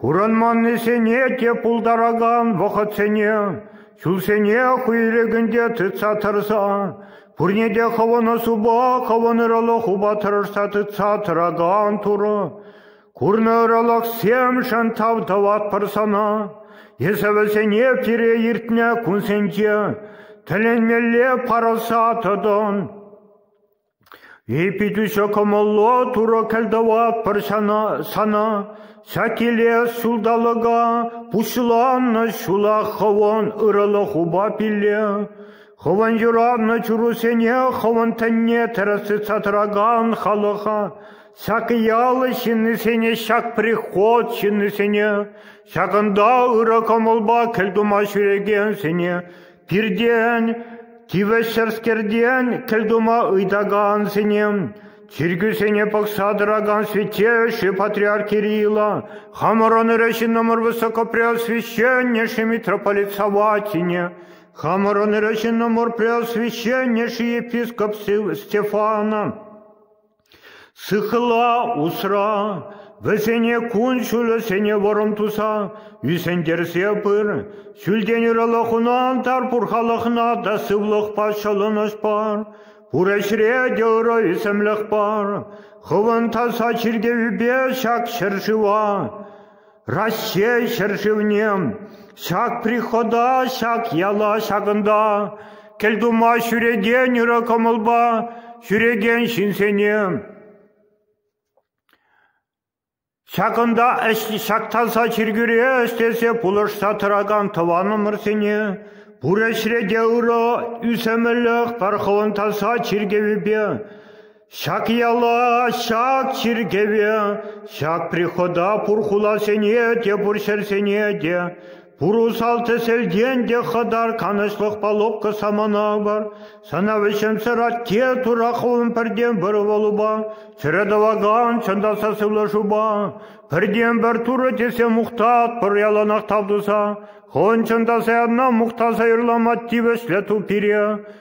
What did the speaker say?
Курӑнманнисене те пултаракан вӑхӑтсене, ҫулсене хӑй ирӗкӗнче тытса тӑрса, пурне те хӑвӑнӑсупа хӑвӑнӑрӑлӑх упа тӑрӑшса тытса тӑракан Турӑ, курнӑ ӑрӑлӑхсемшӗн тав тӑватпӑр сана. Эсӗ вӗсене пире иртнӗ кунсенче тӗлӗнмелле парӑса тӑтӑн. Ӳпӗтӳҫӗ кӑмӑллӑ Турӑ кӗлтӑватпӑр сана, ҫак килес ҫулталӑка пуҫланнӑ ҫула хӑвӑн ырӑлӑх упа пилле, хӑвӑн юратнӑ чурусене хӑвӑн тӗнне тӗрӗс тытса тӑракан халӑха, ҫак ял ҫыннисене, ҫак приход ҫыннисене, ҫакӑнта ырӑ кӑмӑлпа кӗлтума ҫӳрекенсене, Пиртен, тивӗҫсӗрскертен кӗлтума ыйтакансене, чиркӳсене пӑхса тӑракан святейший патриарх Кирилла, хамӑрӑн ырӑ ҫыннӑмӑр высокопреосвященнейший митрополит Саватине, хамӑрӑн ырӑ ҫыннӑмӑр преосвященнейший епископ Стефана, Сыхла усра, вӗсене кун-ҫулӗсене вӑрӑм туса ӳсӗнтерсе пыр, ҫӳлтен ырӑлӑх хунӑ ан тар пурхалӑхна та сывлӑхпа ҫӑлӑнӑҫ пар, пур ӗҫре те ырӑ ӳсӗмлӗх пар, хӑвӑн таса чиркӗвӳпе ҫак ҫӗршыва Раҫҫей ҫӗршывне ҫак прихода, ҫак яла ҫакӑнта кӗлтума ҫӳрекен ырӑ кӑмӑлпа ҫӳрекен ҫынсене, ҫакӑнта ҫак таса чиркӳре ӗҫлесе пулӑшса тӑракан тӑванӑмӑрсене пур ӗҫре те ырӑ, ӳсӗмлӗх, тархӑвӑн таса чиркӗвӗпе Ҫак яла, ҫак чиркӗве, ҫак прихода пур хуласене те, пур ҫӗрсене те, пур усал-тӗселтен те хӑтар канӑҫлӑх палубка самана бар. Сана вӗҫӗмсӗр атте тура хулӑн пӗртен-пӗр ывӑлупа, чӗре тӑвакан чӑн та сасӑлашупа, пӗртен-пӗр турӑ тесе мухтат пӗр яланах тав туса. Хӑн чӑн та саянна мухтаса юрлама тивӗҫлӗ ту пире.